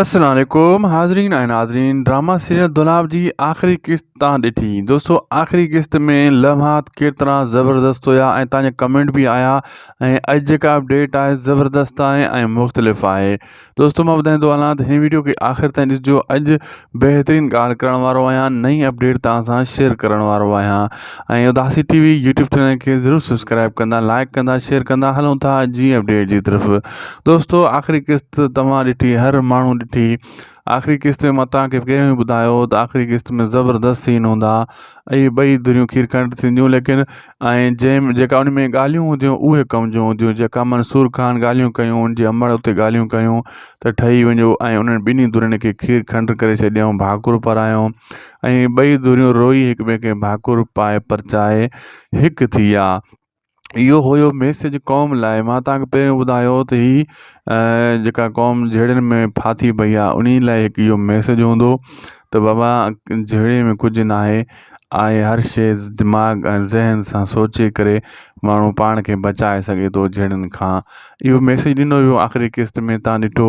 السلام عليڪم حاضرين ۽ ناظرين ڊراما سيريل دولاب جي آخري قسط تان ڏٺي دوستو آخري قسط ۾ لمحات ڪيترا زبردست هيا ۽ تان جا ڪمينٽ به آيا ۽ اڄ جيڪا اپڊيٽ آهي زبردست آهي ۽ مختلف آهي دوستو مان ٻڌائيندو هلان ته هن ويڊيو کي آخر تائين ڏسجو اڄ بهترين ڳالهه ڪرڻ وارو آهيان نئين اپڊيٽ تان سان شيئر ڪرڻ وارو آهيان ۽ Udasi T V YouTube channel کي ضرور سبسڪرائب ڪندا لائڪ ڪندا شيئر ڪندا هلون ٿا جي اپڊيٽ جي طرف دوستو آخري قسط توهان ڏٺي هر ماڻهو ڏٺي آخري قسط ۾ متان کي پهريون ئي ٻڌايو ته آخري قسط ۾ زبردست سين هوندا اي ٻئي دريون کير کنڊ ٿينديون ليڪن ۽ جنهن جيڪا ان ۾ ڳالهيون هونديون اهي ڪم جون هونديون جيڪا منصور خان ڳالهيون ڪيون ان جي امڙ اتي ڳالهيون ڪيون ته ٺهي وڃو ۽ انهن ٻنهي درين کي کير کنڊ ڪري ڇڏيائون ڀاڪر پرايائون ۽ ٻئي ڌريون روئي هڪ ٻئي کي ڀاڪر پائي پرچائي هڪ ٿي ويا. اهو هيو ميسيج قوم لاء. مان توهان کي پهريون ٻڌايو هو ته هي جيڪا قوم جهيڙين ۾ ڦاٿي پئي آهي انهي لاء هڪ اهو ميسيج هوندو ته بابا جهيڙي ۾ ڪجهه ناهي آهي هر شيء دماغ ۽ ذهن سان سوچي ڪري ماڻهو پاڻ کي بچائي سگهي ٿو جهيڙين کان اهو ميسيج ڏنو ويو آخري قسط ۾ تان ڏٺو